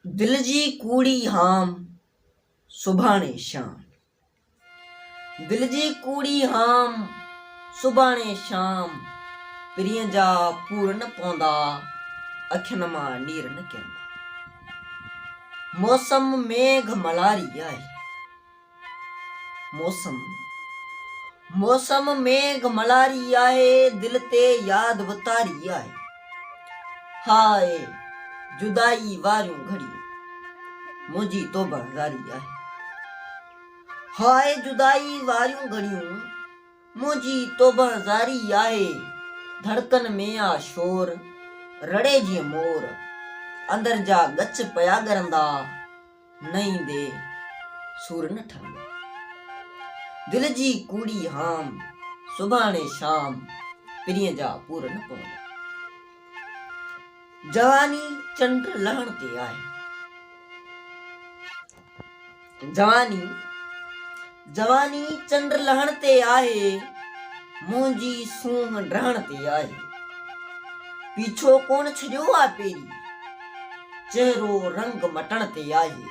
دل جي ڪوڙي هام سڀاڻي شام دل جي ڪوڙي هام سڀاڻي شام پرينء جا پور نه پوندا اکين مان نير نه ڪيندا موسم ميگهه ملاري آهي موسم موسم ميگھ ملاري آهي دل تي ياد وتاري آهي هاء جدائي واريون گھڙيون منهنجي توبه هزاري آهي هاء جدائي واريون گھڙيون منهنجي توبه هزاري آهي ڌڙڪن ۾ آ شور رڙي جيئن مور اندر جا ڳچ پيا ڳرندا نه ايندي سور نه ٺهندو. دل جي ڪوڙي هام، سڀاڻي شام پرينء جا پور نه پوندا. جواني چنڊ لهڻ تي آهي. جواني. جواني چنڊ لهڻ تي آهي، منهنجي سونهن ڊهڻ تي آهي. پيڇو ڪونه ڇڏيو آ پيري، چهرو رنگ مٽڻ تي آهي.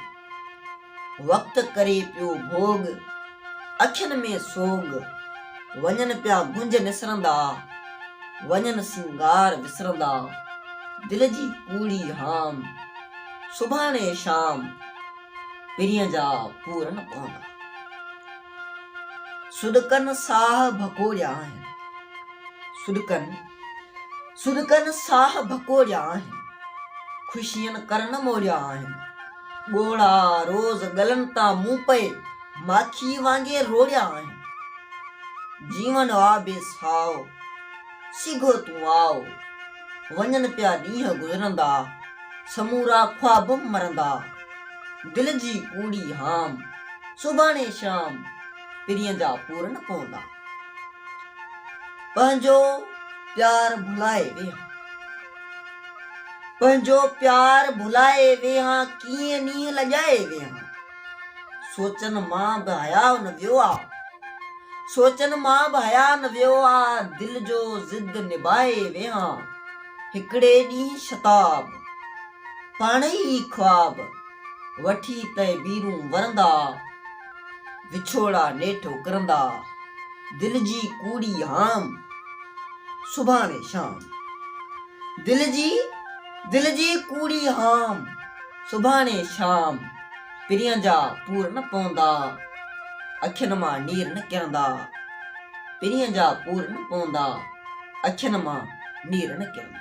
وقت ڪري پيو ڀوڳ، اکين ۾ سوڳ، وڃن پيا گونج نسرندا، وڃن سينگار وسرندا، دل جي ڪوڙي هام، سڀاڻي شام. پرينء جا پورن پوندا. سڏڪن ساهه ڀڪوڙيا آهن. سڏڪن سڏڪن ساهه ڀڪوڙيا آهن. خوشين ڪرن موڙيا آهن. ڳوڙها روز ڳلن تان مون پئي ماکيء وانگي روڙيا آهن. جيون آ بي ساهه. سگهو تون آء. وڃن پيا ڏينهن گذرندا، سمورا خواب مرندا. دل جي ڪوڙي هام، سڀاڻي شام پرينء جا پورن پوندا. پنهنجو پيار ڀلائي ويهان. پنهنجو پيار ڀلائي ويهان، ڪيئن نينهن لڄائي ويهان. سوچن مان به حياء نه ويو آ سوچن مان به حياء نه ويو آ دل جو ضد نباهي ويهان هڪڙي ڏينهن شتاب پاڻ ئي خواب وٺي تهبيرون ورندا وڇوڙا نيٺ اڪرندا دل جي ڪوڙي هام سڀاڻي شام دل جي دل جي ڪوڙي هام سڀاڻي شام پرين جا پور نه پوندا، اکين مان نير نه ڪرندا، پرين جا پور نه پوندا، اکين مان نير نه ڪرندا.